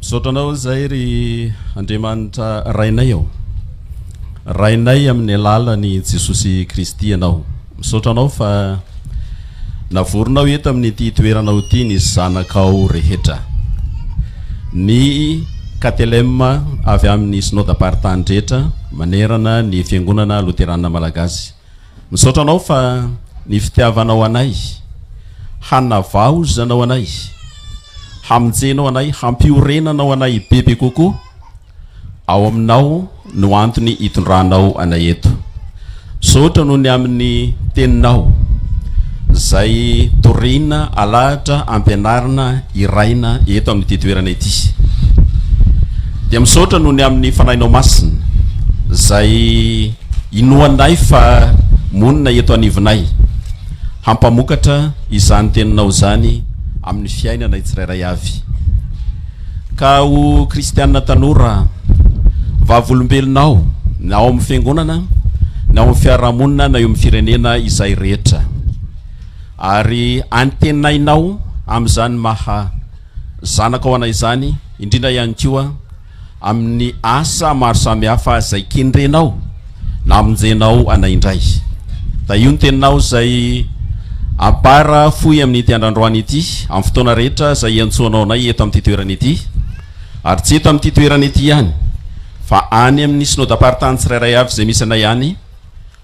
Misaotra anao izay ry Andriamanitra Rainay ô. Rainay amin'ny alalan'i Jesosy Kristy ianao. Misaotra anao fa navorinao eto amin'ity toeranao ity ny zanakao rehetra. Ny KTLM avy amin'ny Synodam-paritany rehetra manerana ny Fiangonana Loterana Malagasy. Misaotra anao fa ny fitiavanao anay hanavaozanao anay hamonjenao anay hampiorenanao anay bebe kokoa ao aminao no antony hitondranao anay eto misaotra noho ny amin'ny teninao zay torina alahatra ampianarina iraina eto amin'ity toerana ity dia misaotra noho ny amin'ny fanahinao masina zay Inoanay fa monina eto anivonay. Hampamokatra izany teninao izany amin'ny fiainanay tsirairay avy. Ka ho kristiana tanora, vavolombelonao, na ao amin'ny fiangonana, na ao amin'ny fiarahamonina, na eo amin'ny firenena izay rehetra. Ary antenainao amin'izany maha zanakao anay izany, indrindra ihany koa, amin'ny asa maro samihafa izay kendrenao na amonjenao anay indray. Tahio ny teninao izay abara fohy amin'ity andrandroany ity, amin'ny fotoana rehetra izay iantsoanao anay eto amin'ity toerana ity, ary tsy eto amin'ity toerana ity ihany, fa any amin'ny Synodam-paritany tsirairay avy izay misy anay any,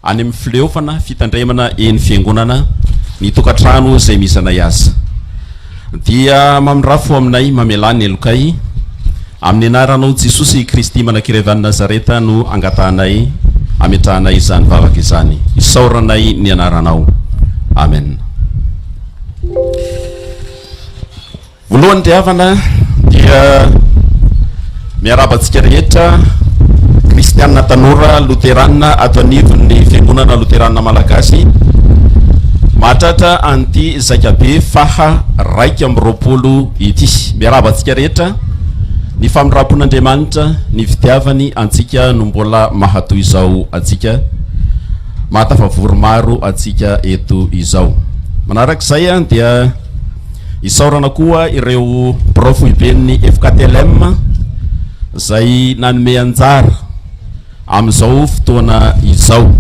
Any amin'ny fileofana fitandremana eny fiangonana ny tokantrano izay misy anay aza dia mamindrafo aminay mamelà ny helokay amin'ny anaranao Jesosy i Kristy Manakirevany Nazareta no angatahanay ametrahanay izany vavaka izany isaoranay ny anaranao Amen. Voalohany ry havana dia miarahaba antsika rehetra kristianina tanora loterana ato anivon'ny fiangonana loterana malagasy mahatratra an'ity zaikabe faha raika amby roapolo ity. Miarahaba antsika rehetra ny famindram-pon'Andriamanitra ny fitiavany antsika no mbola mahatoy izao antsika mahatafavory maro antsika eto izao. Manarak'izay dia Isaorana koa ireo birao foiben'ny FKTLM izay nanome anjara amin'izao fotoana izao.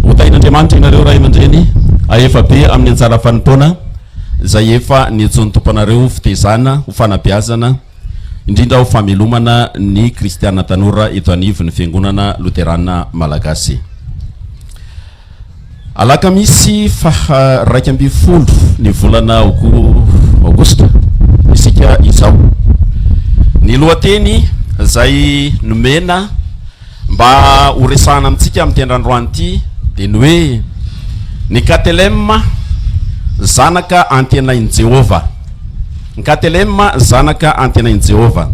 Hotahin'Andriamanitra ianareo ray aman-dreny ahefa be amin'ny anjara fanompoana izay efa niantsoan'ny Tompo anareo fitezana ho fanabeazana indrindra ho famelomana ny kristiana tanora eto anivon'ny Fiangonana Loterana Malagasy. Alakamisy faha iraika ambin'ny folo ny volana aogositra isika izao. Ny lohateny izay nomena mba ho resahana amintsika amin'ity andrandroany ity dia ny hoe Ny Katelema, Zanaka Antenain'i Jehovah. Ny Katelema, zanaka antenain'i Jehovah.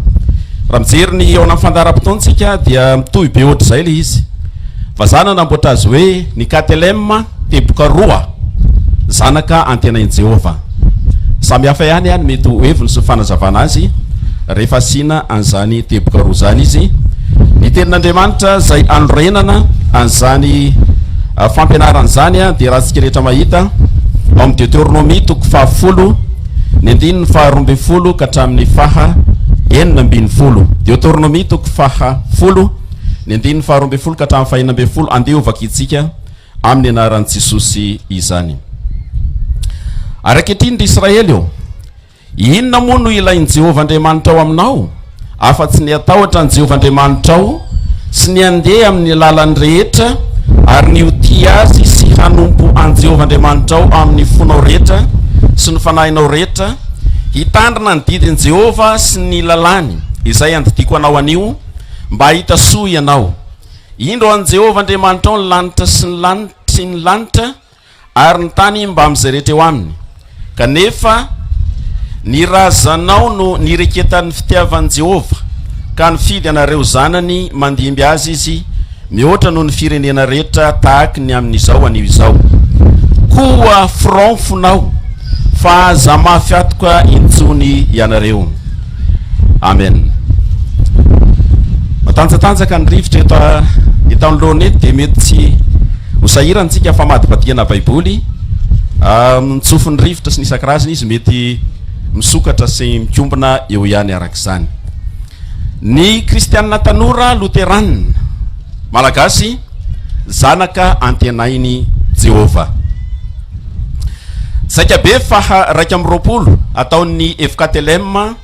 Raha mijery ny eo anatin'ny fandaharam-potoantsika, dia mitohy be hoatr'izay ilay izy. Vazaha nanamboatra azy hoe ny Katelema, teboka roa, zanaka antenain'i Jehovah. Samy hafa ihany ny mety ho heviny sy ny fanazavana azy, rehefa asiana an'izany teboka roa izany izy. Ny Tenin'Andriamanitra izay anorenana an'izany fampianarana izany, dia raha isika rehetra mahita ao amin'ny Deoteronomia toko fahafolo, ny andininy faha roa ambin'ny folo ka hatramin'ny faha enina ambin'ny folo. Deoteronomia toko faha folo, ny andininy faha roa ambin'ny folo ka hatramin'ny faha enina ambin'ny folo, andeha hovakitsika amin'ny anaran'i Jesosy izany. Ary ankehitriny ry Israely ô, inona moa no ilain'i Jehovah Andriamanitra ao aminao? afa-tsy ny hatahotra an'i Jehovah Andriamanitrao sy ny handeha amin'ny lalany rehetra ary ny ho tia azy sy hanompo an'i Jehovah Andriamanitrao amin'ny fonao rehetra sy ny fanahinao rehetra, hitandrina ny didin'i Jehovah sy ny lalàny, izay andidiako anao anio, mba hahita soa ianao. Indro an'i Jehovah Andriamanitrao ny lanitra sy ny lanitry ny lanitra, Ary ny tany mbamin'izay rehetra eo aminy. Kanefa ny razanao no nireketan'ny fitiavan'i Jehovah, ka nifidy anareo zanany mandimby azy izy, mihoatra noho ny firenena rehetra tahaky ny amin'izao anio izao. Koa fironfonao, fa aza mafy atoka intsony ianareo. Amen. Matanjatanjaka ny rivotra eto eto anoloana eto dia mety tsy ho sahirana isika famadibadihana Baiboly. Mitsofy ny rivotra sy ny isan-karazany izy mety misokatra sy mikombona eo ihany araka izany. Ny kristianina tanora loteranina malagasy Zanaka antenain'i Jehovah. Zaikabe faha raika amby roapolo ataon'ny FKTLM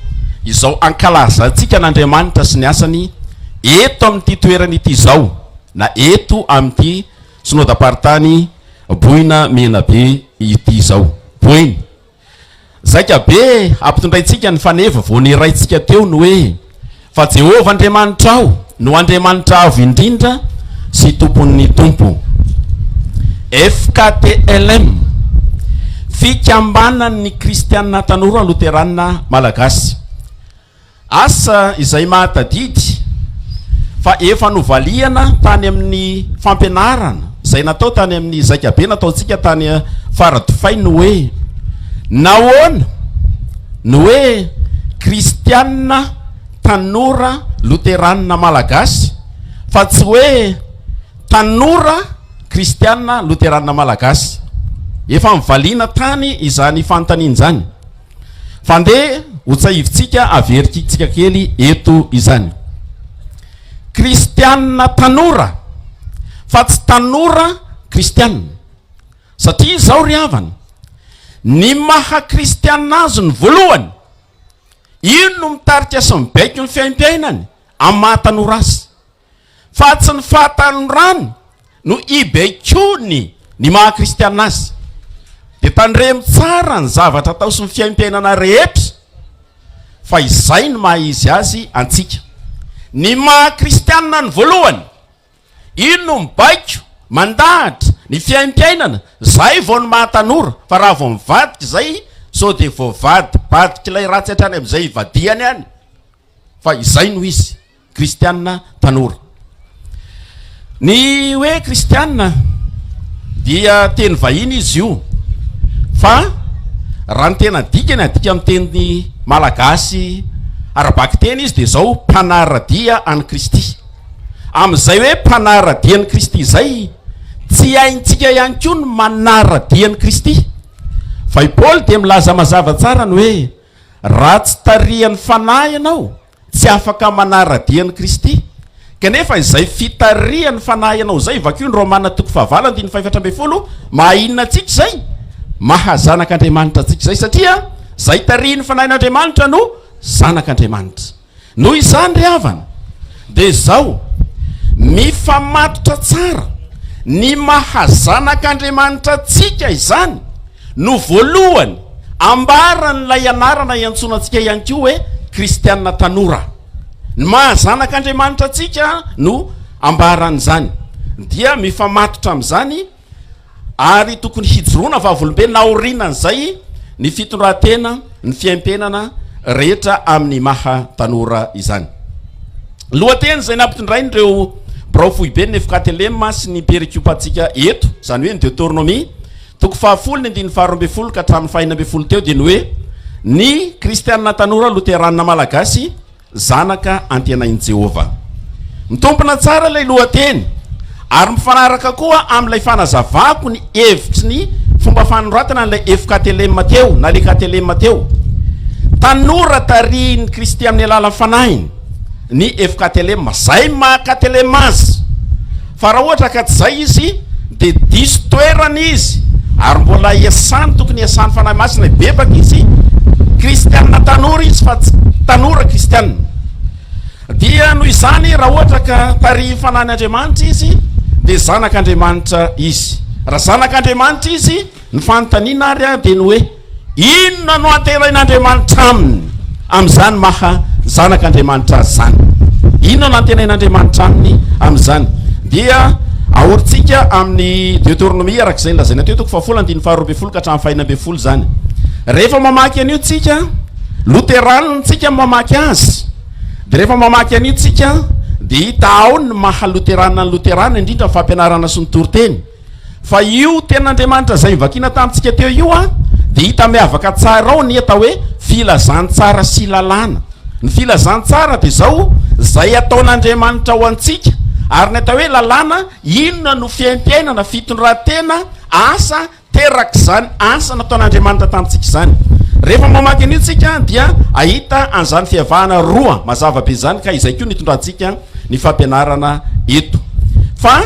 izao ankalazantsika an'Andriamanitra sy ny asany eto amin'ity toerana ity izao na eto amin'ity Synodam-paritany Boina Menabe ity izao. Boeny. Zaika be hampitondraintsika ny faneva vao nirahintsika teo ny hoe, Fa Jehovah Andriamanitrao no Andriamanitra Avo Indrindra sy Tompon'ny tompo. FKTLM, Fikambanan'ny Kristiana Tanora Loteranina Malagasy. Asa izay mahatadidy fa efa novaliana tany amin'ny fampianarana izay natao tany amin'ny zaikabe nataontsika tany Faradofay ny hoe Nahoana ny hoe Kristianina tanora loteranina malagasy fa tsy hoe Tanora Kristianina loteranina malagasy? Efa nivaliana tany izany fanontaniana izany. Fa ndeha ho tsahivintsika averintsika kely eto izany. Kristianina tanora fa tsy tanora kristianina. Satria izao ry havana, ny maha kristianina azy ny voalohany, iny no mitarika sy mibaiko ny fiaimpiainany amin'ny maha tanora azy. fa tsy ny fahatanorany no ibaikoany ny maha kristiana azy. Dia tandremo tsara ny zavatra atao sy ny fiaimpiainana rehetra fa izay no maha izy azy antsika. Ny maha kristiana ny voalohany, iny no mibaiko, mandahatra, ny fiaimpiainana, izay vao ny maha tanora, fa raha vao mivadika izay sao dia voavadibadik'ilay ratsy hatrany amin'izay ivadihany any fa izay no izy. Kristianina tanora. Ny hoe kristianina dia teny vahiny izy io fa raha ny tena dikany adika amin'ny teny malagasy ara-bakiteny izy dia izao mpanara-dia an'i Kristy. Amin'izay hoe mpanara-dia an'i Kristy izay tsy haintsika ihany koa ny manara-dia an'i Kristy. Fa i Paoly dia milaza mazava tsara ny hoe raha tsy tarihan'ny fanahy ianao Tsy afaka manara-dia an'i Kristy. Kanefa izay fitarihan'ny Fanahy anao izay, vakio ny Romana toko fahavalo andininy fahefatra ambin'ny folo, maha inona antsika izay? Maha zanak'Andriamanitra antsika izay, satria izay tarihin'ny Fanahin'Andriamanitra no zanak'Andriamanitra. Noho izany ry havana, dia izao, mifamatotra tsara ny maha zanak'Andriamanitra antsika izany, No voalohany, ambaran'ilay anarana iantsoana antsika ihany koa hoe kristiana tanora. Ny maha zanak'Andriamanitra antsika no ambaran'izany. Dia mifamatotra amin'izany ary tokony hijoroana vavolombelona aorianan'izay ny fitondran-tena, ny fiaimpenana rehetra amin'ny maha tanora izany. Ny lohateny izay nampitondrain'ireo birao foiben'ny Efkatelema sy ny perikopantsika eto, izany hoe ny Deoteronomia, Toko fahafolo ny andininy faharoa ambin'ny folo ka hatramin'ny fahena ambin'ny folo teo dia ny hoe Ny Kristianina tanora Loteranina Malagasy zanaka antenain'i Jehovah. Mitompina tsara ilay lohateny, ary mifanaraka koa amin'ilay fanazavako ny hevitry ny fomba fanoratana an'ilay FKTLM teo, na le KTLM teo. Tanora tarihin'ny Kristy amin'ny alalan'ny fanahiny. ny FKTLM, zay maha KTLM azy, fa raha ohatra ka tsy zay izy de diso toerana izy ary mbola iasany tokony iasany fanahy masina hibebaka izy kristianina tanora izy fa tsy tanora kristianina dia noho izany raha ohatra ka tarihy fanany andriamanitra izy de zanak'andriamanitra izy raha zanak'andriamanitra izy ny fanontaniana ary dia ny hoe Inona no anterain'Andriamanitra aminy amin'izany maha zanak'Andriamanitra azy izany? Inona no antenain'Andriamanitra aminy amin'izany? Dia ahorintsika amin'ny Deoteronomia araka izay nolazaina teo, toko fahafolo andininy faharoa ambin'ny folo ka hatramin'ny fahena ambin'ny folo izany. Rehefa mamaky an'io tsika, loteranina tsika mamaky azy, dia rehefa mamaky an'io tsika dia hita ao ny maha loteranina ny loteranina, indrindra ny fampianarana sy ny toriteny. Fa io tenin'Andriamanitra izay novakiana tamintsika teo io an, dia hita miavaka tsara ao ny atao hoe filazantsara sy lalàna. Ny filazantsara dia izao, izay ataon'Andriamanitra ho antsika. Ary ny atao hoe lalàna, inona no fiaimpiainana, fitondrantena, asa terak'izany asa nataon'Andriamanitra tamintsika izany. Rehefa mamaky an'io tsika dia hahita an'izany fiavahana roa mazava be izany ka izay koa no hitondrantsika ny fampianarana eto fa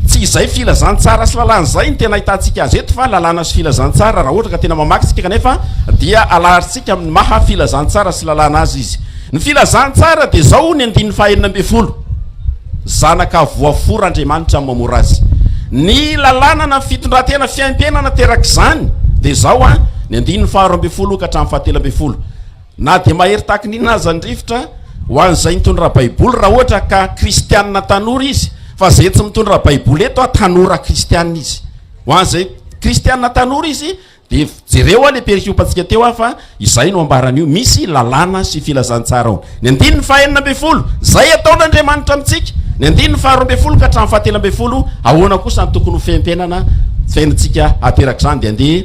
tsy izay filazantsara sy lalàna izay ny tena ahitantsika azy eto fa lalàna sy filazantsara raha ohatra ka tena mamaky tsika kanefa dia alaharintsika amin'ny maha filazantsara sy lalàna azy izy ny filazantsara dia zao ny andininy fahenina ambin'ny folo zanaka voafora andriamanitra amin'ny mamora azy ny lalàna na fitondran-tena fiaimpiainana terak'izany dia zao a ny andininy faharo ambin'ny folo ka hatramin'ny fahatelo ambin'ny folo Na dia mahery tahaka ny inona aza ny rivotra ho an'izay nitondra Baiboly, raha ohatra ka Kristianina tanora izy, fa izay tsy mitondra Baiboly eto an, tanora Kristianina izy. Ho an'izay Kristianina tanora izy, dia jereo an ilay perikopantsika teo an, fa izay no ambaran'io, misy lalàna sy filazantsara ao. Ny andininy fahenina ambin'ny folo, izay ataon'Andriamanitra amintsika. Ny andininy faharoa ambin'ny folo ka hatramin'ny fahatelo ambin'ny folo, ahoana kosa no tokony ho fenpenana fiainantsika aterak'izany. Dia andeha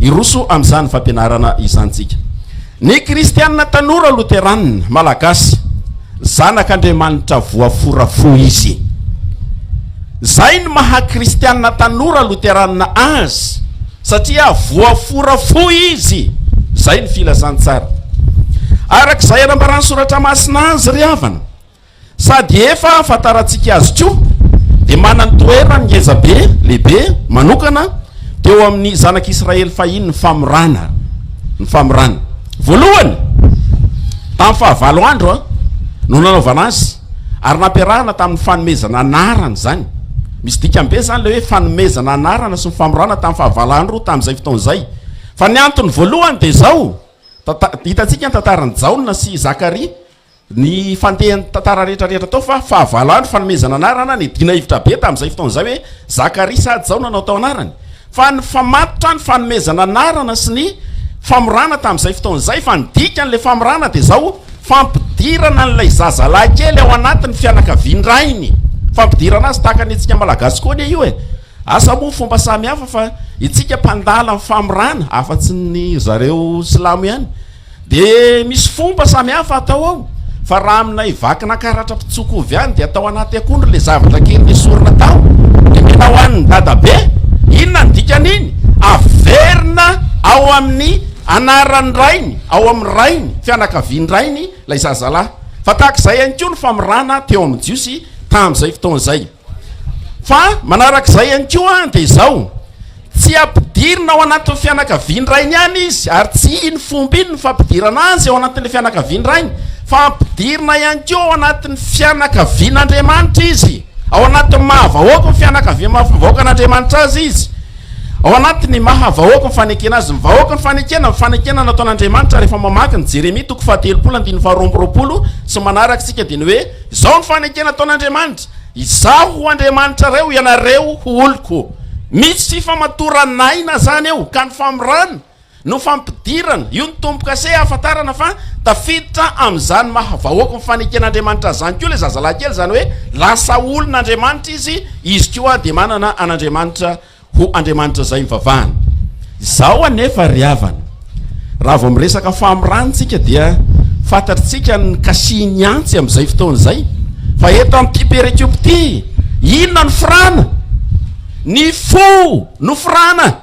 hiroso amin'izany fampianarana izany isika. Ny kristianina tanora loteranina malagasy, zanak' Andriamanitra voafora fo izy. Zay ny maha kristianina tanora loteranina azy satria voafora fo izy, zay ny filazantsara. Arak'izay anambaran'ny soratra masina azy ry havana, Sady efa ahafantarantsika azy koa dia manany toerany ngeza be, lehibe, manokana teo amin'ny zanak'i Israely fahiny ny famorana, ny famorana. Voalohany, tamin'ny fahavalo andro no nanaovana azy ary nampiarahana tamin'ny fanomezana anarana izany. Misy dikany be izany ilay hoe fanomezana anarana sy ny famorana tamin'ny fahavalo andro tamin'izay fotoana izay. Fa ny antony voalohany dia izao, hitantsika ny tantaran'i Jaona sy Zakaria, ny fandehan'ny tantara rehetra rehetra tao fa fahavalondry fanomezana anarana ny dina hevitra be tamin'izay fotoana izay hoe zakaria sa jaona no atao anarany fa ny famatotra ny fanomezana anarana sy ny famorana tamin'izay fotoana izay fa ny dikany le famorana dia zao fampidirana an'ilay zazalahy kely ao anatin'ny fianakavian-drainy fampidirana azy tahaka ny antsika malagasy koa anie io e asa moa fomba samy hafa fa itsika mpandala ny famorana afa-tsy ny zareo silamo ihany Dia misy fomba samy hafa atao ao, fa raha aminay vakina karatra mpitsoko ovy any dia atao anaty akondro ilay zavatra kely nesorina tao dia mena hohanin'ny dadabe, inona ny dikan'iny? averina ao amin'ny anaran'ny rainy, ao amin'ny rainy, fianakavian-drainy, ilay zazalahy. Fa tahaka izay ihany koa ny famirana teo amin'ny Jiosy tamin'izay fotoana izay. Fa manaraka izay ihany koa dia izao, tsy ampidirina ao anatin'ny fianakavian-drainy ihany izy, ary tsy iny fomba iny no fampidirana azy ao anatin'ilay fianakavian-drainy, fa ampidirina ihany koa ao anatin'ny fianakavian'Andriamanitra izy, ao anatin'ny maha-vahoaky ny fianakaviam-vahoakan'Andriamanitra azy izy, ao anatin'ny maha-vahoaky ny fanekena azy. Ny vahoaky ny fanekena, ny fanekena nataon'Andriamanitra, rehefa mamaky ny Jeremia toko fahatelopolo andininy faharoa amby roapolo sy ny manaraka isika dia ny hoe, Izao ny fanekena ataon'Andriamanitra, Izaho ho Andriamanitrareo, ianareo ho oloko. Misy famatoran'aina zany eo, ka ny famorana no fampidirana, io ny tombokase hahafantarana fa tafiditra amin'izany maha vahoaka ny faneken'Andriamanitra azy zany koa ilay zazalahy kely, izany hoe lasa olon'Andriamanitra izy, izy koa dia manana an'Andriamanitra Ho Andriamanitra izay ivavahana. Izao anefa ry havana, raha vao miresaka famorana isika dia fantatr'tsika ny kasihin'ny antsy amin'izay fotoana izay, fa eto amin'ity perekiopy ity, inona no forana? Ny fo no forana!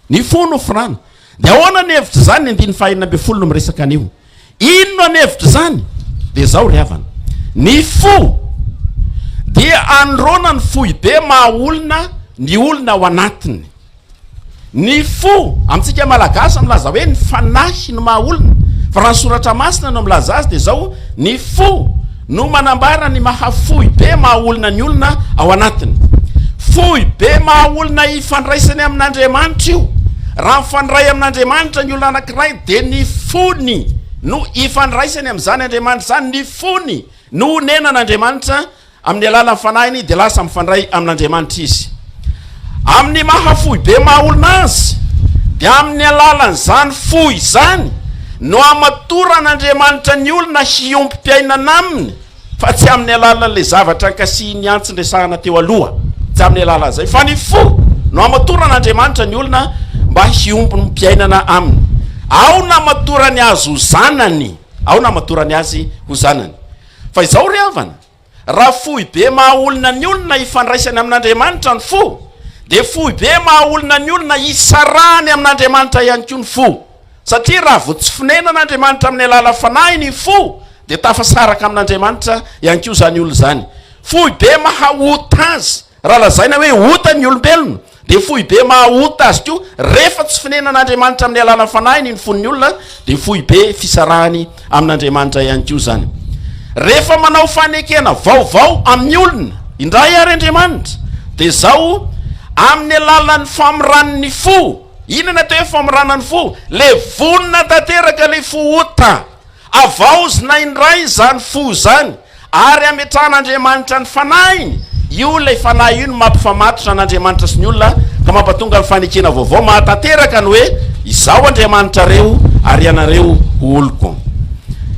Ny fo no forana. Dia ahoana ny hevitr'izany ny andininy fahenina ambin'ny folo no miresaka an'io? Inona ny hevitr'izany? Dia izao ry havana, ny fo dia anorana ny foibe maha olona ny olona ao anatiny. Ny fo, amintsika malagasy milaza hoe ny fanahy no maha olona, fa raha ny soratra masina no milaza azy dia izao, ny fo, no manambara ny maha fohy be maha olona ny olona ao anatiny. Fohy be maha olona hifandraisany amin'Andriamanitra io. Raha mifandray amin'Andriamanitra ny olona anankiray dia ny fony no hifandraisany amin'izany Andriamanitra izany, ny fony no honenan'Andriamanitra amin'ny alalan'ny fanahiny dia lasa mifandray amin'Andriamanitra izy. Amin'ny maha foibe maha olona azy, dia amin'ny alalan'izany fo izany no hamatoran'Andriamanitra ny olona hiombom-piainana Aminy, fa tsy amin'ny alalan'ilay zavatra ankasihin'ny antsy niresahana teo aloha, tsy amin'ny alalan'izay, fa ny fo no hamatoran'Andriamanitra ny olona mba hiombom-piainana Aminy. Aona hamatorany Azy ho zanany? Aona hamatorany Azy ho zanany? Fa izao ry havana, Raha foibe maha olona ny olona hifandraisany amin'Andriamanitra ny fo, dia foibe maha olona ny olona hitsarany amin'Andriamanitra ihany koa ny fo. Satria raha vao tsy fonenan'Andriamanitra amin'ny alalan'ny fanahiny ny fo, dia tafasaraka amin'Andriamanitra ihany koa izany olona izany. Foibe maha ota azy. Raha lazaina hoe ota ny olombelona, dia foibe maha ota azy koa. Rehefa tsy fonenan'Andriamanitra amin'ny alalan'ny fanahiny ny fon'ny olona, dia foibe fisarahany amin'Andriamanitra ihany koa izany. Rehefa manao fanekena vaovao amin'ny olona indray àry Andriamanitra, dia izao, Amin'ny alalan'ny famoran'ny fo. Inona atao hoe famorana ny fo? Ilay vonona tanteraka ilay fo ota. Havaozina indray izany fo izany ary hametrahan'Andriamanitra ny Fanahiny. Io ilay Fanahy io no mampifamatotra an'Andriamanitra sy ny olona ka mampatonga ny fanekena vaovao mahatanteraka ny hoe, Izaho Andriamanitrareo ary ianareo ho oloko.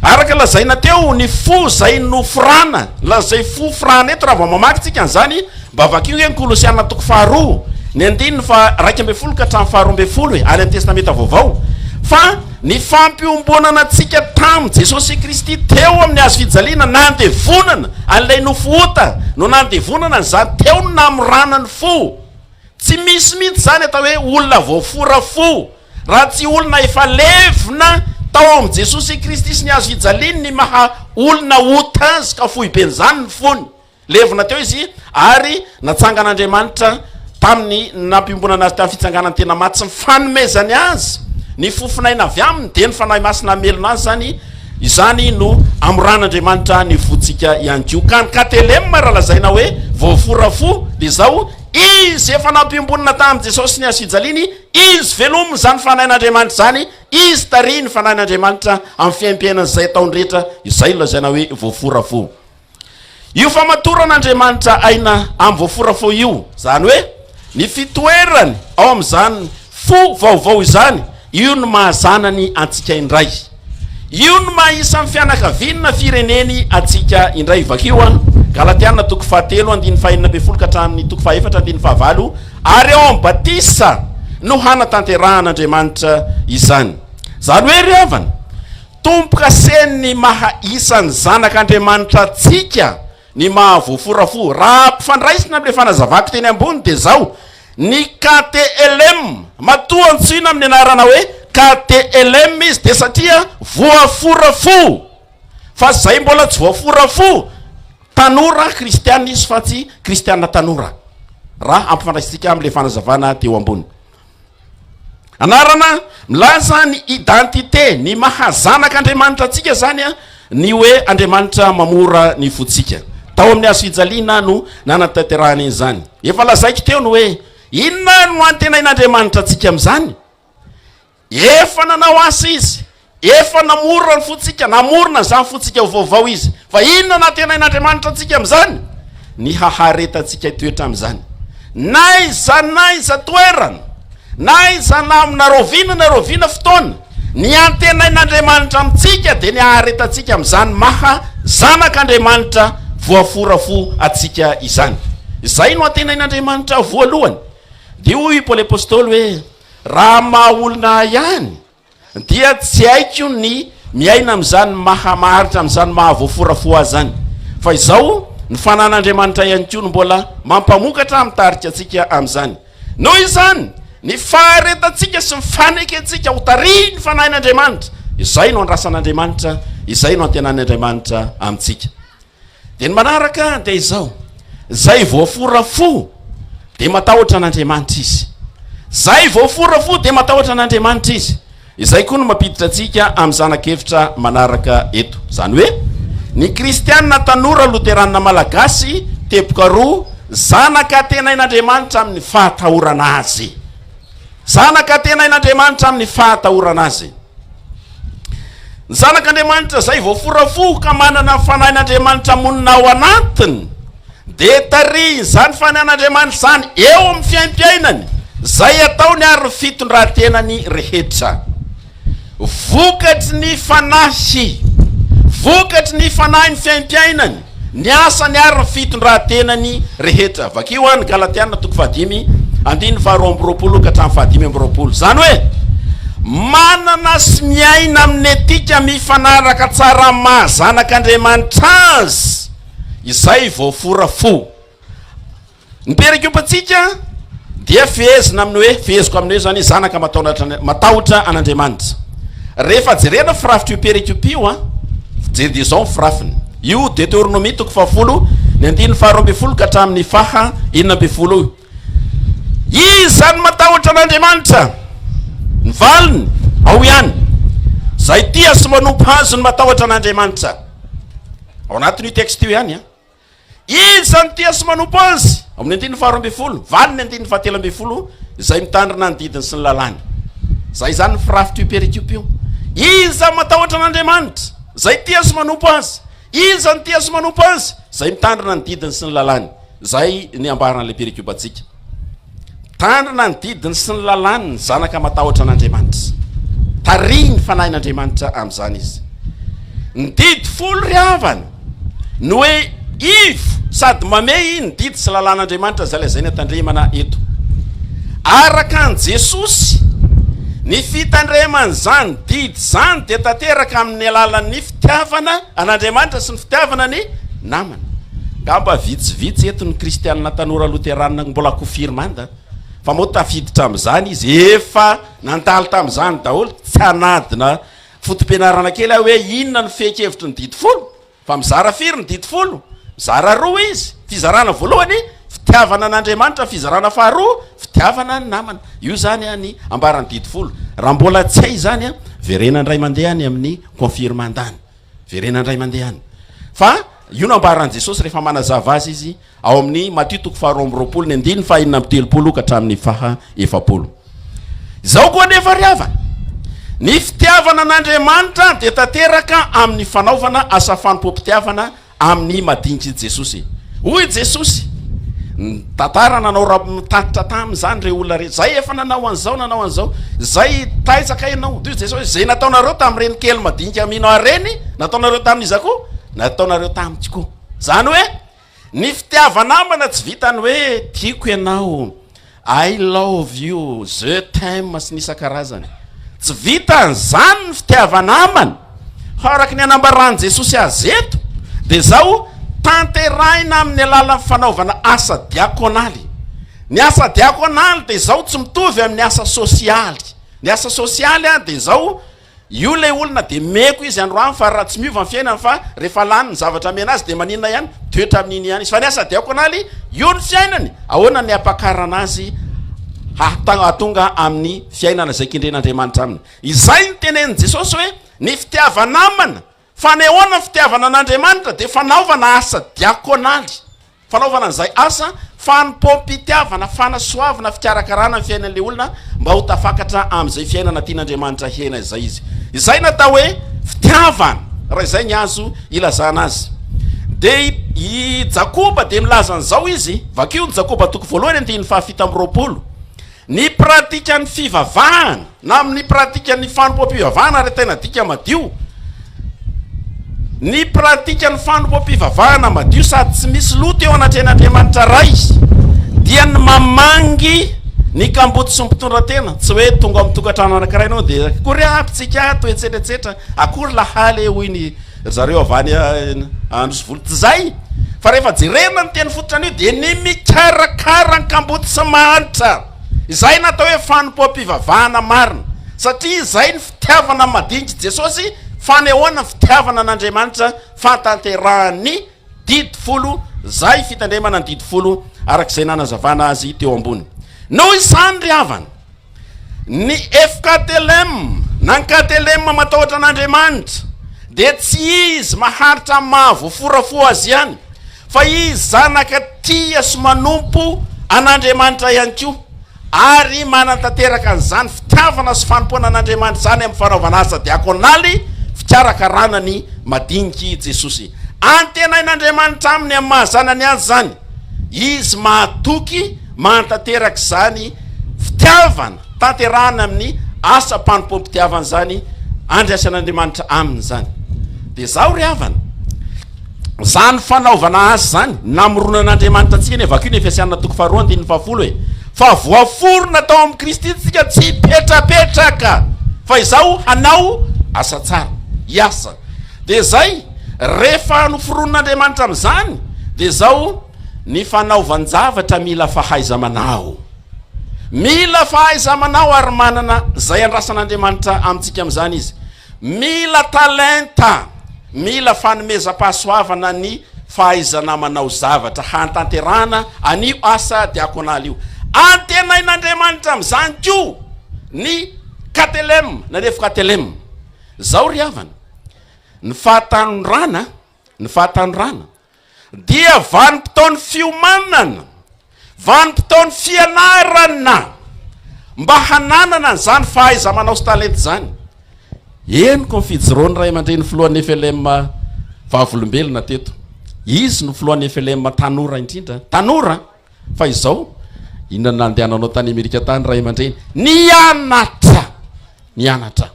Araka lazaina teo, ny fo izay noforana, ilazay fo forana eto raha vao mamaky tsika an'izany, Mba vakio anie ny Kolosiana toko faharoa, ny andininy faha-iraika ambin'ny folo ka hatramin'ny faharoa ambin'ny folo e, any amin'ny Testamenta Vaovao, fa ny fampiombonana antsika tamin'i Jesosy Kristy teo amin'ny Hazo fijaliana, nandevonana an'ilay nofo ota, no nandevonana an'izany teo ny namorana ny fo. Tsy misy mihitsy izany atao hoe olona voafora fo, raha tsy olona efa levona tao amin'i Jesosy Kristy sy ny Hazo fijaliany ny maha olona ota azy ka foiben'izany ny fony. Levona teo izy ary natsangan'Andriamanitra tamin'ny nampiombonana azy tamin'ny fitsanganany tena maty sy ny fanomezany azy ny fofon'aina avy aminy, dia ny Fanahy Masina hamelona azy izany, izany no amoran'Andriamanitra ny fontsika ihany koa. Ka ny KTLM raha lazaina hoe voafora fo dia izao, izy efa nampiombonana tamin'i Jesosy sy ny hazofijaliany, izy velomin' izany Fanahin'Andriamanitra izany, izy tarihin'ny Fanahin'Andriamanitra amin'ny fiaimpiainany izay ataony rehetra, izay no lazaina hoe voafora fo. Io famatoran'Andriamanitra aina amin'ny voafora fo io, izany hoe ny fitoerany ao amin'izany fo vaovao izany, io no maha zanany antsika indray. Io no maha isan'ny fianakaviany na fireneny antsika indray. Vakio an, Galatiana toko fahatelo andininy fahenina ambin'ny folo ka hatramin'ny toko fahefatra andininy fahavalo, Ary ao amin'ny batisa no hanatanterahan'Andriamanitra izany. Izany hoe ry havana, Tompo kase ny maha isan'ny zanak' Andriamanitra antsika ny maha voafora fo. Raha ampifandraisina amin'ilay fanazavako teny ambony dia izao, ny KTLM, matoa antsoina amin'ny anarana hoe KTLM izy dia satria voafora fo. Fa izay mbola tsy voafora fo, tanora kristiana izy fa tsy kristiana tanora, raha ampifandraisintsika amin'ilay fanazavana teo ambony. Anarana milaza ny identité, ny maha zanak' Andriamanitra antsika izany ny hoe Andriamanitra mamora ny fontsika. Tao amin'ny hazo fijaliana no nanatanterahana izany. Efa lazaiko teo ny hoe inona no antenain'Andriamanitra antsika amin'izany. Efa nanao asa izy. Efa namorona ny fontsika, namorona izany fontsika ho vaovao Izy. Fa inona no antenain'Andriamanitra antsika amin'izany? Ny haharetantsika hitoetra amin'izany. N'aiza n'aiza toerana, n'aiza na amina rahoviana na rahoviana fotoana, ny antenain'Andriamanitra amintsika dia ny haharetantsika amin'izany maha zanak'Andriamanitra voafora fo antsika izany. Izay no antenain'Andriamanitra voalohany. Dia hoy i Paoly Apostoly hoe, Raha amin'ny maha olona ahy ihany, Dia tsy haiko ny miaina amin'izany maha maharitra an'izany maha voafora fo ahy izany. Fa izao ny fanan'Andriamanitra ihany koa no mbola mampamokatra ary mitarika antsika amin'izany. Noho izany, ny faharetantsika sy ny fanekentsika ho tarihin'ny Fanahin'Andriamanitra, izay no andrasan'Andriamanitra, izay no antenanin'Andriamanitra amintsika. Dia ny manaraka dia izao, izay voafora fo dia matahotra an'Andriamanitra izy. Izay voafora fo dia matahotra an'Andriamanitra izy. Izay koa no mampiditra antsika amin'ny zanak'evitra manaraka eto. Izany hoe, ny kristiana tanora loteranina malagasy, teboka roa, zanaka antenain'Andriamanitra amin'ny fahatahorana Azy. Zanaka antenain'Andriamanitra amin'ny fahatahorana Azy. Ny Zanak'Andriamanitra izay voafora fo ka manana ny Fanahin'Andriamanitra monina ao anatiny dia tarihin'izany Fanahin'Andriamanitra izany eo amin'ny fiaimpiainany, izay ataony ary ny fitondrantenany rehetra. Vokatry ny Fanahy, vokatry ny Fanahy ny fiaimpiainany. ny asany ary ny fitondran-tenany rehetra. Vakio any Galatiana toko fahadimy, andininy faharoa amby roapolo ka hatramin'ny fahadimy amby roapolo. Izany hoe, manana sy miaina amin'ny etika mifanaraka tsara amin'ny maha zanak'Andriamanitra azy izay voafora fo. Ny perekopantsika dia fehezina amin'ny hoe, feheziko amin'ny hoe izany, zanaka matahotra an'Andriamanitra. Rehefa jerena firafitr'io perekopa io, jereo dia izao ny firafiny. Io Deteronomia toko fahafolo, ny andininy faharoa ambin'ny folo ka hatramin'ny faha enina ambin'ny folo io. Iza no matahotra an'Andriamanitra? Ny valiny, ao ihany. Izay tia sy manompo azy no matahotra an'Andriamanitra. Ao anatin'io texte io ihany. Izy izany tia sy manompo Azy. Ao amin'ny andininy faharoa ambin'ny folo, valin'ny andininy fahatelo ambin'ny folo, izay mitandrina ny didiny sy ny lalàny. Izay izany ny firafit'io perikopy io. Izy izany matahotra an'Andriamanitra, izay tia sy manompo Azy. Izy izany tia sy manompo Azy, izay mitandrina ny didiny sy ny lalàny. Izay ny ambaran'ilay perikopantsika. Mitandrina ny didiny sy ny lalàny ny zanaka matahotra an'Andriamanitra. Tarihin'ny Fanahin'Andriamanitra amin'izany izy. Ny didy folo ry havana no hoe ivo sady mamehy ny didy sy lalàn'Andriamanitra izay lazaina tandremana eto. Araka an'i Jesosy, ny fitandreman'izany didy izany dia tanteraka amin'ny alalan'ny fitiavana An'Andriamanitra sy ny fitiavana ny namana. Ngamba vitsivitsy eto ny kristianina tanora loteranina no mbola kofirmanda fa moa tafiditra amin'izany izy efa nandalo tamin'izany daholo, tsy hanadina foto-pianarana kely aho hoe inona no fehin-kevitry ny didy folo fa mizara firy ny didy folo? mizara roa izy, fizarana voalohany fitiavana an'Andriamanitra, fizarana faharoa fitiavana ny namana, io izany ny ambaran'ny didy folo, raha mbola tsy hay izany verenandray mandeha any amin'ny. Confirme an-dany. Verena indray mandeha any. Fa io no ambaran'i Jesosy rehefa manazava azy Izy ao amin'ny Matio toko faharoa amby roapolo ny andininy fahenina amby telopolo ka hatramin'ny faha efapolo. Izao koa anefa ry havana, ny fitiavana an'Andriamanitra dia tanteraka amin'ny fanaovana asa fanompoam-pitiavana Amin'ny madinidr'i Jesosy. Hoy i Jesosy, Nitantara nanao raha nitatitra taminy izany ireo olona rehetra. Izay efa nanao an'izao, nanao an'izao. Izay taizaka ianao. Hoy i Jesosy, Izay nataonareo tamin'ireny kely madinika mino Ahy ireny, nataonareo tamin'iza koa? Nataonareo tamiko koa. Izany hoe, ny fitiava-namana tsy vitan'ny hoe tiako ianao. I love you, je t'aime sy ny isan-karazany. Tsy vitan'izany ny fitiava-namana. Fa araka ny anambaran'i Jesosy azy eto dia izao, Tanterahina amin'ny alalan'ny fanaovana asa diakonaly. Ny asa diakonaly dia izao tsy mitovy amin'ny asa sosialy. Ny asa sosialy dia izao, Io ilay olona dia meko izy androany fa raha tsy miova ny fiainany fa rehefa lany ny zavatra amena azy dia maninona ihany, toetra amin'iny ihany izy fa ny asa diakonaly io ny fiainany, ahoana ny hampakarana azy hahatonga amin'ny fiainana izay kendren'Andriamanitra aminy? Izay no tenenin'i Jesosy hoe ny fitiava-namana. Fanehoana ny fitiavana an'Andriamanitra dia fanaovana asa diakonaly, fanaovana izay asa fanompoam-pitiavana, fanasoavana, fikarakarana ny fiainan'ilay olona mba ho tafakatra amin'izay fiainana tian'Andriamanitra hihena izay izy. Izay no atao hoe fitiavana, raha izay ny azo ilazana azy. Dia i i Jakoba dia milaza an'izao izy, vakio ny Jakoba toko voalohany andininy fahafito amby roapolo. Ny pratikan'ny fivavahana na amin'ny pratikan'ny fanompoam-pivavahana ary tena dika madio, ny pratikan'ny fanompoam-pivavahana madio sady tsy misy loto eo anatrehan'Andriamanitra Ray dia ny mamangy ny kamboty sy ny mpitondra tena, tsy hoe tonga ao amin'ny tokantrano anankiray ianao dia akory ampitsika ato etsetra etsetra, akory lahaly e hoy ny Ry zareo avy any Anosivolo tsy zay fa rehefa jerena ny teny fototra anio dia ny mikarakara ny kamboty sy mahantra izay natao hoe fanompoam-pivavahana marina satria izay ny fitiavana ny madinik'i Jesosy fanehoana ny fitiavana an'Andriamanitra fahatanterahan'ny didy folo zay fitandremana ny didy folo arak'izay nanazavana azy teo ambony noho izany ry havana Ny FKTLM na ny KTLM matahotra an'Andriamanitra dia tsy izy maharitra amin'ny maha voafora fo azy ihany fa izy zanaka tia sy manompo an'Andriamanitra ihany koa ary manantanteraka an'izany fitiavana sy fanompoana an'Andriamanitra izany amin'ny fanaovana asa diakonaly fikarakarana ny madiniki Jesosy antenain'Andriamanitra aminy amin'ny maha zanany azy izany izy mahatoky Mahatanteraka izany fitiavana tanterahana amin'ny asam-panompoam-pitiavana izany andraisan'Andriamanitra aminy izany. Dia izaho ry havana, izany fanaovana azy izany, namoronan'Andriamanitra antsika ny Vakio ny Efesiana toko faharoa andininy fahafolo e. Fa voaforona tao amin'i Kristy isika tsy hipetrapetraka fa izaho hanao asa tsara, hiasa. Dia izay, rehefa noforonin'Andriamanitra amin'izany dia izaho. Ny fanaovan-javatra mila fahaiza-manao. Mila fahaiza-manao ary manana izay andrasan'Andriamanitra amintsika amin'izany Izy. Mila talenta, mila fanomezam-pahasoavana ny fahaizana manao zavatra hahatanterahana an'io asa diakonaly io. Antenain'Andriamanitra amin'izany koa ny Katelem na Nefo-Katelem. Izao ry havana, ny fahatanorana, ny fahatanorana, Dia vanim-potoan'ny fiomanana, vanim-potoan'ny fianarana mba hananana an'izany fahaiza-manao sy talenta izany. Henoko ny fijoroan'ny ray aman-dreny filohan'ny FLM Vavolombelona teto. Izy no filohan'ny FLM tanora indrindra. Tanora! Fa izao, inona no nandehananao tany Amerika tany ray aman-dreny? Nianatra! Nianatra!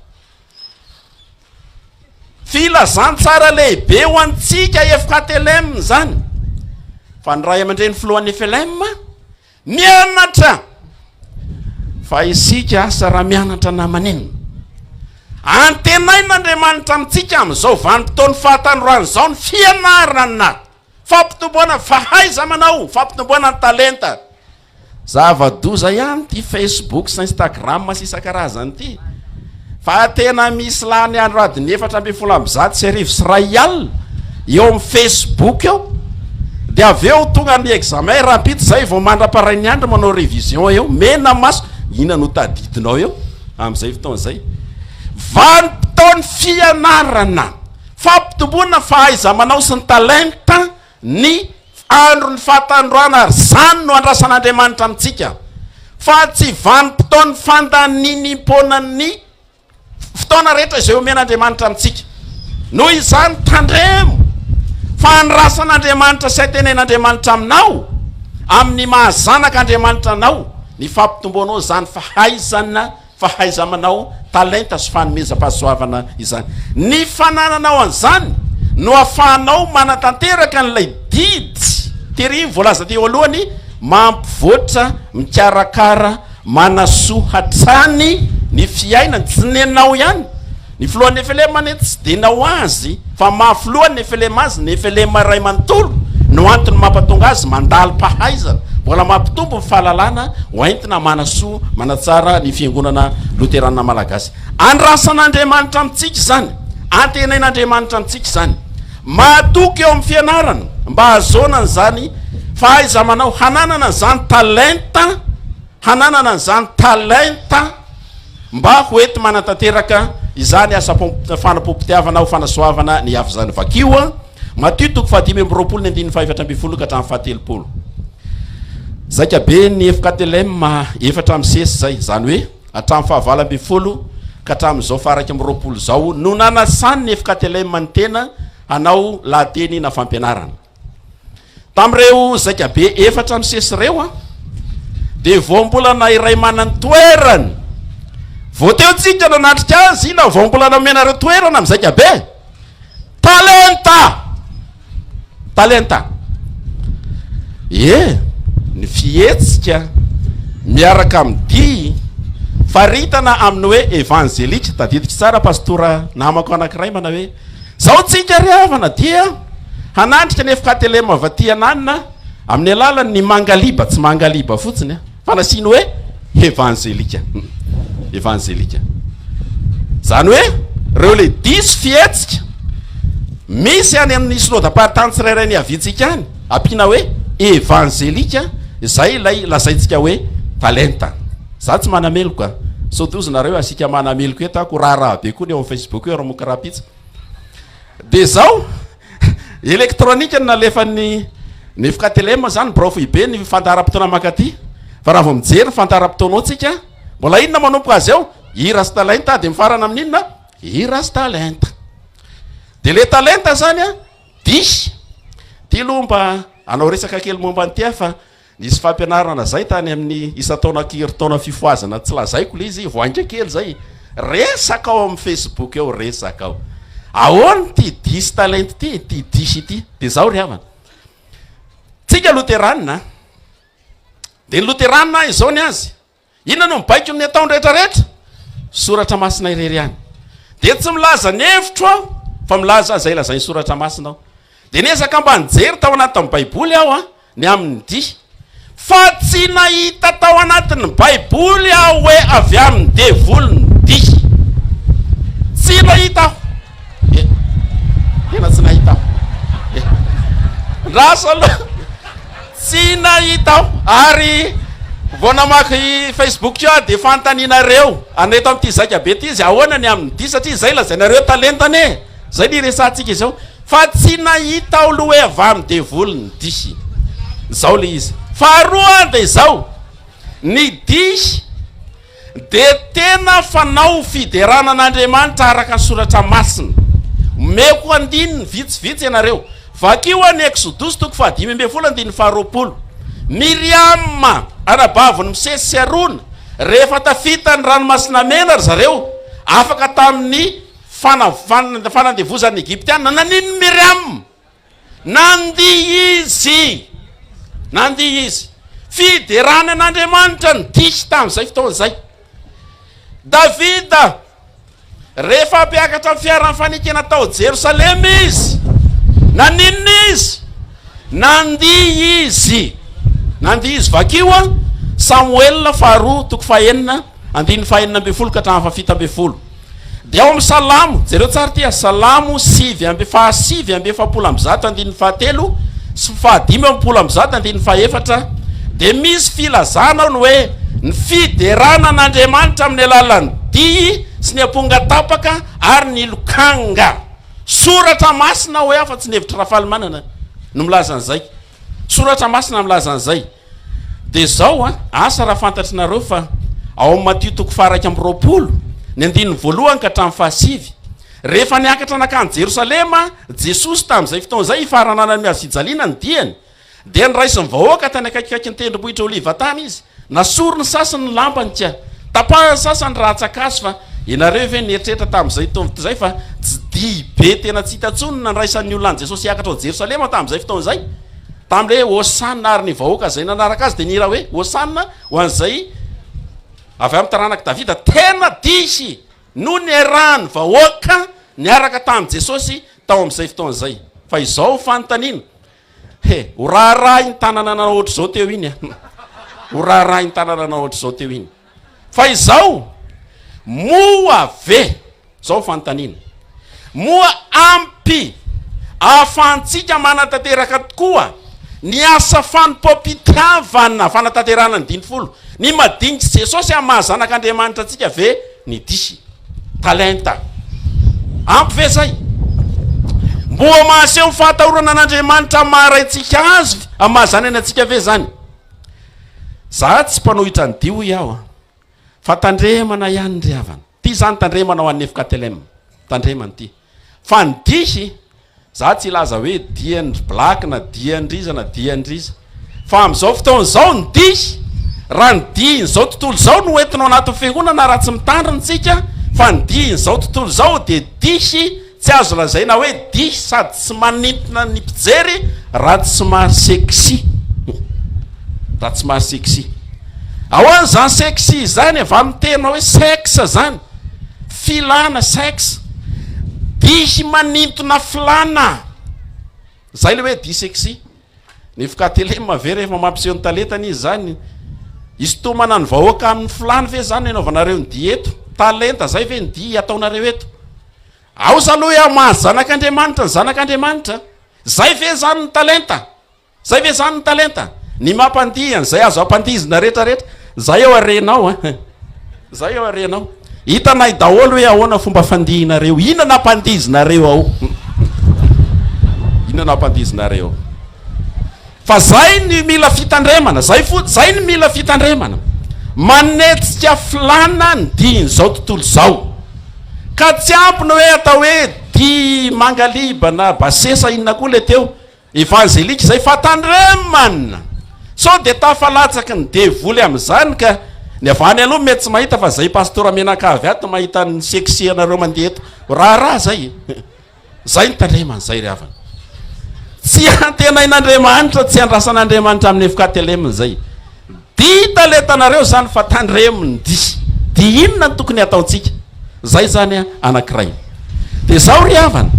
Filazantsara lehibe ho antsika FKTLM izany fa ny Ray aman-dReny Filohan'ny FLM mianatra fa isika asa raha mianatra na maninona. Antenain'Andriamanitra amintsika amin'izao vanim-potoan'ny fahatanoran'izao ny fianarana Fampitomboana fahaiza-manao, fampitomboana ny talenta. Zava-doza ihany ity Facebook sy Instagram sy isan-karazany ity fa tena misy lany andro adiny efatra ambin'ny folo amby zato sy arivo sy iray alina eo amin'ny Facebook eo dia avy eo tonga ny examen rahampitso izay vao mandra-parain'ny andro manao révision eo mena maso inona no tadidinao eo amin'izay fotoana izay vanim-potoan'ny fianarana Fampitomboana fahaiza-manao sy ny talenta ny andron'ny fahatandroana ary izany no andrasan'Andriamanitra amintsika fa tsy vanim-potoan'ny fandaninimpona ny fotoana rehetra izay omen'Andriamanitra amintsika. Noho izany tandremo fa andrasan'Andriamanitra sy hatenen'Andriamanitra aminao amin'ny maha zanak'Andriamanitra anao ny fampitomboanao izany fahaizana Fahaiza-manao, talenta sy fanomezam-pahasoavana izany. Ny fanananao an'izany no ahafahanao manatanteraka an'ilay didy tery voalaza teo aloha ny mampivoatra, mikarakara, manasoa hatrany ny fiainany. Tsy nenao ihany. Ny filohan'ny Nefelema anefa tsy dia nao azy fa maha filohan'ny Nefelema azy, Nefelema iray manontolo, no antony mampatonga azy mandalo pahaizana, mbola mampitombo ny fahalalana ho entina manasoa, manatsara ny Fiangonana Loterana Malagasy. Andrasan'Andriamanitra amintsika izany, antenain'Andriamanitra amintsika izany. Mahatoky eo amin'ny fianarana mba hahazoana an'izany fahaiza-manao, hananana an'izany talenta, hananana an'izany talenta. mba ho enti-manatanteraka izany asa fanapom-pitiavana ho fanasoavana ny hafa izany. Vakio an! Matio toko fahadimy amby roapolo ny andininy fahefatra ambin'ny folo ka hatramin'ny fahatelopolo. Zaika be ny efoka Telem efatra amin'ny sesy izay, izany hoe hatramin'ny fahavalo ambin'ny folo ka hatramin'izao faharaika amby roapolo izao no nanasany ny efoka Telem ny tena hanao lahateny na fampianarana. Tamin'ireo zaikabe efatra nisesy ireo, dia voambolana iray manany toerany. Vao teo tsika nanatrika azy, inona voambolana omenareo toerana amin'ny zaikabe? Talenta! Talenta! Ie, ny fihetsika miaraka amin'ny dihy faritana amin'ny hoe evanjelika, tadidiko tsara pastora namako anankiray manao hoe Izao tsika ry havana dia hanandrika ny FKTLM avy aty ananona amin'ny alalan' ny mangaliba, tsy mangaliba fotsiny an, fa nasiany hoe hevanzelika, evanzelika, izany hoe ireo le diso fihetsika misy any amin'ny synodam-paritany tsirairay niaviantsika any, ampiana hoe evanzelika, izay ilay lazaintsika hoe talenta. Za tsy manameloka, sao toa ozinareo asika manameloka eto ako raharaha be koa ny eo am facebook eo ramoka rapitsa de zao electronique no nalefan'ny ny fktlm zany birao foibe ny fandaharam-potoana mankaty fa raha vao mijery ny fandaharam-potoanao tsika mbola inona manomboka azy eo i rastalenta de mifarana amin'ny inona i rastalenta de le talenta zany a dihy ty loha mba anao resaka kely momba ny tia fa Nisy fampianarana zay tany amin'ny isan-taona aky herintaona fifohazana tsy lazaiko le izy voainga kely zay resaka ao amin'ny facebook eo resaka ao ahoana ity diso talenta ity ity diso ity de zao ry havana tsika loteranina de ny loteranina izao ny azy Inona no mibaiko ny ataony rehetra rehetra? Soratra masina irery ihany. Dia tsy milaza ny hevitro aho fa milaza izay lazain'ny soratra masina aho. Dia niezaka mba nijery tao anatin'ny baiboly aho ny amin'ny dihy. Fa tsy nahita tao anatin'ny baiboly aho hoe avy amin'ny devoly ny dihy. Tsy nahita aho. Eh, tena tsy nahita aho. Eh. Rasa aloha. Tsy nahita aho ary vao namaky Facebook-ko aho dia fanontanianareo anao eto amin'ity Zaika be ity izy ahoana ny aminy ity satria izay lazainareo talentany e! izay no iresahantsika izao fa tsy nahita aho aloha hoe avy amin'ny devoly ny dihy izao ilay izy faharoa dia izao ny dihy Dia tena fanao fiderana an'Andriamanitra araka soratra masina. Omeko andininy vitsivitsy ianareo. Vakio any Eksodosy toko fahadimy ambin'ny folo andininy faharoapolo. Miriama, anabavin'i Mosesy sy Arona, rehefa tafita ny Ranomasina Mena ry zareo, afaka tamin'ny fanandevozan'ny Egyptiana. Naninona i Miriama? Nandihy izy! Nandihy izy! Fiderana an'Andriamanitra no dihy tamin'izay fotoana izay. Davida, rehefa hampiakatra ny fiaran'ny fanekena tao Jerosalema izy, naninona izy? Nandihy izy! Nandihy izy. Vakio a! Samoela faharoa, toko fahenina, andininy fahenina ambin'ny folo ka hatramin'ny fahafito ambin'ny folo. Dia ao amin'ny Salamo, jereo tsara ity a, Salamo sivy amby, fahasivy amby efapolo amby zato andininy fahatelo sy fahadimy amby folo amby zato andininy fahefatra, dia misy filazana ao ny hoe ny fiderana an'Andriamanitra amin'ny alalan'ny dihy sy ny amponga tapaka ary ny lokanga. Soratra masina hoy aho fa tsy ny hevitr'i Rafalimanana no milaza an'izay. Soratra masina milaza an'izay. Dia izao an, asa raha fantatr'nareo fa ao amin'ny Matio toko faha-iraika amby roapolo, ny andininy voalohany ka hatramin'ny fahasivy, rehefa niakatra nankany Jerosalema Jesosy tamin'izay fotoana izay hifarananany miazofijaliana ny diany, dia niraisin'ny vahoaka tany akaikikaikin'ny tendrombohitra Oliva tany Izy. Nasoriny sasany ny lampany ka. Tapahany sasany raha atsakaso fa ianareo ve nieritreritra tamin'izay tovt izay fa tsy dihy be tena tsy hita intsony ny nandraisan'ny olona an'i Jesosy hiakatra ao Jerosalema tamin'izay fotoana izay? Tamin'ilay hoe Hosanna ary ny vahoaka izay nanaraka azy dia nihira hoe Hosanna ho an'izay avy amin'ny taranak'i Davida. Tena dihy no niarahan'ny vahoaka niaraka tamin'i Jesosy tao amin'izay fotoana izay. Fa izao ny fanontaniana, He, ho raharahin-tanana nanao ohatr'izao teo iny an! Ho raharahin-tanana nanao ohatr'izao teo iny. Fa izao, moa ve, izao fanontaniana, moa ampy ahafahantsika manatanteraka tokoa ny asa fanompoam-pitiavana fanatanterahana ny dimy folo, ny madinits'i Jesosy amin'ny maha zanak'Andriamanitra antsika ve Ny dihy. Talenta. Ampy ve izay? Mboa mahaseho fahatahorana an'Andriamanitra amin'ny maha Raintsika Azy amin'ny maha zanany antsika ve izany? Za tsy mpanohitra ny dihy hoy aho a! Fa tandremana ihany ry havana. Ity izany tandremana ho an'ny FKTLM. Tandremana ity. Fa ny dihy, za tsy hilaza hoe dian-dry black na dian-driza na dian-driza, fa amin'izao fotoana izao ny dihy, raha ny dihin'izao tontolo izao no entinao anatin'ny fiangonana raha tsy mitandrina isika, fa ny dihin'izao tontolo izao dia dihy tsy azo lazaina hoe dihy sady tsy manintona ny mpijery raha tsy maha-sexy, raha tsy maha-sexy. Ahoana izany sexy izany e? Vanon-teny hoe sexe izany. Filana, sex, dihy manintona filana, izay ilay hoe dihy sexy. Ny FKTLM ve rehefa mampiseho ny talentany izy izany? Hisintomana ny vahoaka amin'ny filany ve izany no hanaovanareo ny dihy eto? Talenta izay ve ny dihy ataonareo eto? Aoza aloha hoe hamaha zanak'Andriamanitra ny zanak'Andriamanitra. Izay ve izany ny talenta? Zay ve zany ny talenta? Ny maha mpandihy an'izay azo ampandihizina rehetra rehetra? Zay eo harenao a! Zay eo harenao! Hitanay daholo hoe ahoana fomba fandihinareo, inona ampandihizinareo ao? Inona ampandihizinareo ao? Fa zay ny mila fitandremana, zay fotsiny, zay ny mila fitandremana. Manetsika filana ny dihin'izao tontolo izao. Ka tsy ampy ny hoe atao hoe dihy Mangaliba na Basesa inona koa le teo. Evanjelika izay fa tandremana! Sao dia tafalatsaky ny devoly amin'izany ka! Ny avy any aloha mety tsy mahita fa izay pastora mianakavy ato mahita ny sexianareo mandeha eto ho raharaha izay e! Izay ny tandremana izay ry havana! Tsy antenain'Andriamanitra, tsy andrasan'Andriamanitra amin'ny FKTLM izay. Dia hita le tanareo izany fa tandremo ny dihy. Dia inona no tokony hataontsika? Izay izany anankiray. Dia izao ry havana,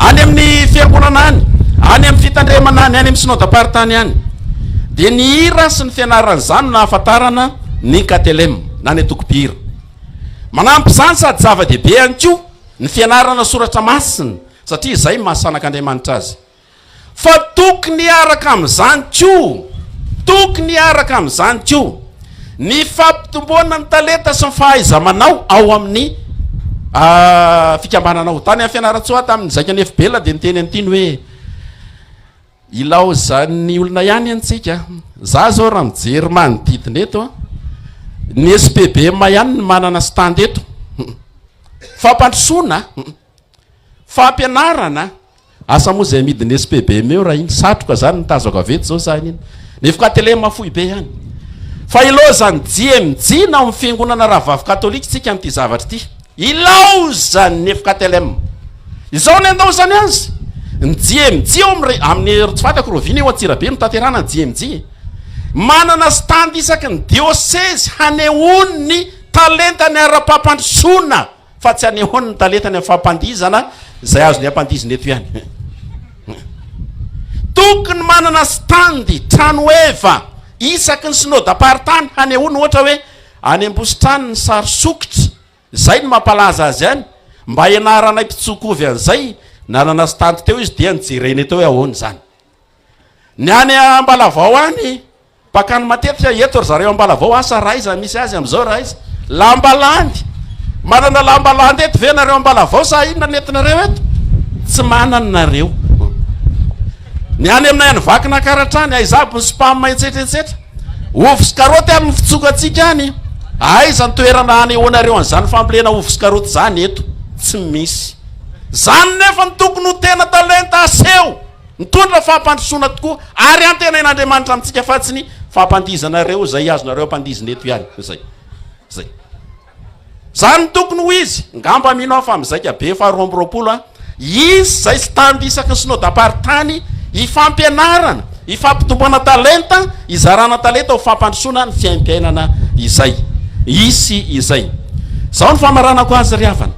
any amin'ny fiangonana any, any amin'ny fitandremana any, any amin'ny synodam-paritany any, dia ny hira sy ny fianarana izany no nahafantarana ny KTLM na ny antokom-pihira. Manampy izany sady zava-dehibe ihany koa ny fianarana soratra masina satria izay maha sanak'Andriamanitra azy. Fa tokony hiaraka amin'izany koa, tokony hiaraka amin'izany koa, ny fampitomboana ny talenta sy ny fahaiza-manao ao amin'ny fikambanana ao. Tany amin'ny Fianarantsoa, tamin'ny Zaika Nefibela dia niteny an'ity ny hoe, ilaozan'ny olona ihany anie tsika. Izaho izao raha mijery manodidina eto an, ny SPBM ihany no manana stand eto. Fampandrosoana, fampianarana, Asa moa izay amidin'ny SPBM eo raha iny satroka izany no tazako avy eto izao za an'iny. Nefoka telema fohy be ihany. Fa ilaozan'ny JMJ na ao amin'ny fiangonana rahavavy katolika isika an'ity zavatra ity. Ilaozan'ny nefoka telema. Izao no endaozany azy. Ny JMJ ao amin'ny amin'ny tsy fantako Rovina io Antsirabe no tanterahana ny JMJ. Manana stand isaky ny diosezy hanehoany ny talentany ara-pampandrosoana. Fa tsy anehoany ny talentany amin'ny fampandihizana izay azony ampandihizina eto ihany. Tokony manana stand, trano eva, isaky ny synodam-paritany hanehoany ohatra hoe any Ambositrano ny sary sokitra, izay no mampalaza azy any, mba hianaranay mpitsoa-kovy an'izay, nanana stand teo izy dia nojerenay teo hoe ahoana izany. Ny any Ambalavao any, pakany matetika eto ry zareo Ambalavao, asa ra iza misy azy amin'izao ra iza? Lamba landy! Manana lamba landy eto ve nareo Ambalavao sa inona ny entinareo eto? Tsy manana nareo. Ny any aminay any Vakinakaratra any, aiza aby ny spam etsetra etsetra? Ovy sy karoty any ny fitsokantsika any. Aiza ny toerana hanehoanareo an'izany fambolena ovy sy karoty izany eto? Tsy misy. Izany nefa no tokony ho tena talenta aseho. Mitondra fampandrosoana tokoa ary antenain'Andriamanitra amintsika fa tsy ny fampandihizanareo izay azonareo ampandihizina eto ihany izay. Izay. Izany no tokony ho izy. Ngamba mino aho fa mizaika be faharoa amby roapolo an. Hisy izay stand isaky ny synodamparitany hifampianarana, hifampitomboana talenta, hizarana talenta ho fampandrosoana ny fiaimpiainana izay. Hisy izay. Izao no famaranako azy ry havana.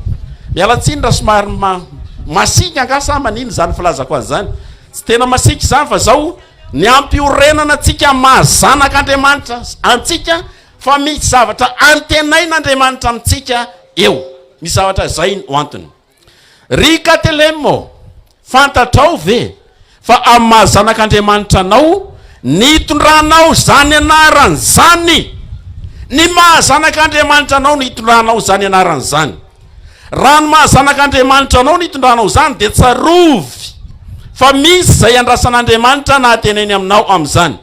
Miala tsiny raha somary ma. Masiaka angaha sa manina izany filazako azy izany? Tsy tena masiaka izany fa izao, ny hampiorenana antsika amin'ny maha zanak'Andriamanitra antsika fa misy zavatra antenain'Andriamanitra amintsika eo. Misy zavatra izay no antony. Ry Katelemo, fantatrao ve Fa amin'ny maha zanak'Andriamanitra anao, nitondranao izany anarany izany. Ny maha zanak'Andriamanitra anao no hitondranao izany anarany izany. Raha ny maha zanak'Andriamanitra anao no hitondranao izany, dia tsarovy fa misy izay andrasan'Andriamanitra nahatenainy aminao amin'izany.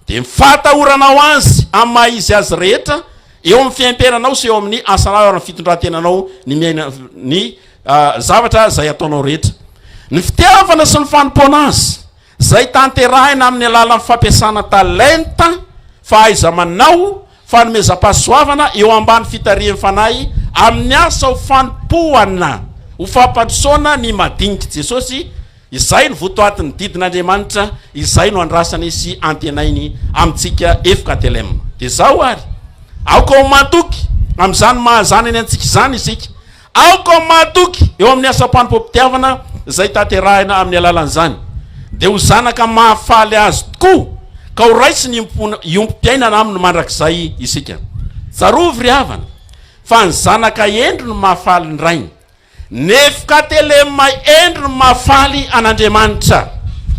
Dia ny fahatahoranao Azy amin'ny maha Izy Azy rehetra eo amin'ny fiaimpiainanao sy eo amin'ny asanao ary ny fitondran-tenanao ny miaina ny zavatra izay ataonao rehetra. Ny fitiavana sy ny fanompoana Azy, izay tanterahina amin'ny alalan'ny fampiasana talenta, fahaiza-manao, fanomezam-pahasoavana eo ambany fitarihan'ny Fanahy amin'ny asa ho fanompoana, ho fampandrosoana ny madinidr'i Jesosy, Izay no votoatin'ny didin'Andriamanitra, izay no andrasany sy antenainy amintsika fktlm. Dia izao ary, aoka ho matoky amin'izany maha-zanany antsika izany isika. Aoka ho matoky eo amin'ny asam-panompoam-pitiavana izay tanterahina amin'ny alalan'izany. Dia ho zanaka mahafaly Azy tokoa, ka ho raisiny hiombom-piainana Aminy mandrakizay isika. Tsarovy ry havana, fa ny zanaka hendry no mahafaly ny rainy. Nefoka telema Endry ny mahafaly an'Andriamanitra,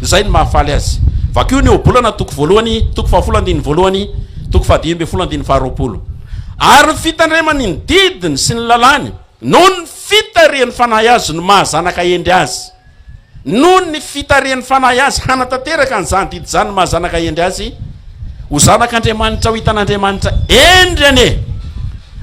izay no mahafaly Azy. Vakio ny Ohabolana toko voalohany, toko fahafolo andininy voalohany, toko fahadimy ambin'ny folo andininy faharoapolo. Ary ny fitandremany ny didiny sy ny lalàny, noho ny fitarihany fanahy Azy no maha zanaka hendry Azy. Noho ny fitarihany fanahy Azy hanatanteraka an'izany didy izany no maha zanaka hendry Azy. Ho zanak'Andriamanitra ho hitan'Andriamanitra hendry anie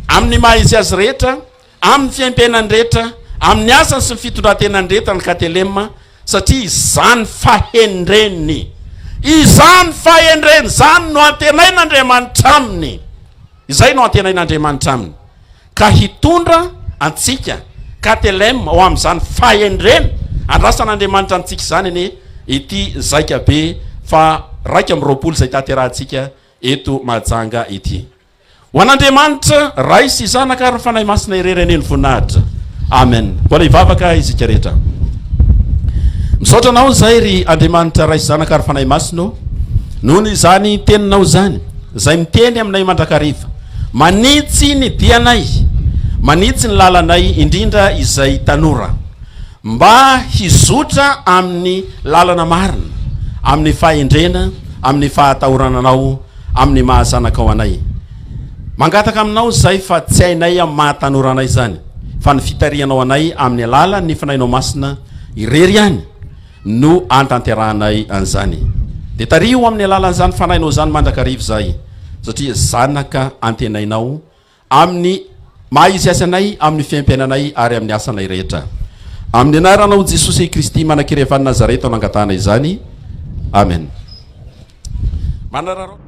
amin'ny maha izy Azy rehetra. Amin'ny fiaimpiainany rehetra, amin'ny asany sy ny fitondrantenany rehetra ny Katelema, satria izany fahendreny izany fahendreny izany no antenain'Andriamanitra aminy, izay no antenain'Andriamanitra aminy, ka hitondra antsika, Katelema, ho amin'izany fahendrena andrasan'Andriamanitra amintsika izany anie ity zaika be faha raika amby roapolo izay tanterahantsika eto Mahajanga ity. Ho an'Andriamanitra Ray sy Zanaka ary ny Fanahy Masina irery anie ny voninahitra. Amen. Mbola hivavaka isika rehetra. Misaotra anao izay ry Andriamanitra Ray sy Zanaka ary Fanahy Masina ô. Noho izany teninao izany, izay miteny aminay mandrakariva. Manitsy ny dianay, manitsy ny lalanay indrindra izay tanora mba hizotra amin'ny lalana marina, amin'ny fahendrena, amin'ny fahatahorananao. amin'ny maha zanakao anay. Mangataka aminao izahay fa tsy hainay amin'ny maha tanora anay izany, fa ny fitarihanao anay amin'ny alalan'ny Fanahinao Masina irery ihany no ahatanterahanay an'izany. Dia tariho amin'ny alalan'izany Fanahinao izany mandrakariva izahay, satria zanaka antenainao amin'ny maha izy azy anay, amin'ny fiaimpiainanay ary amin'ny asanay rehetra. Amin'ny anaranao Jesosy Kristy Manankerevan'i Nazareta no angatahana izany. Amen. Manararaotra.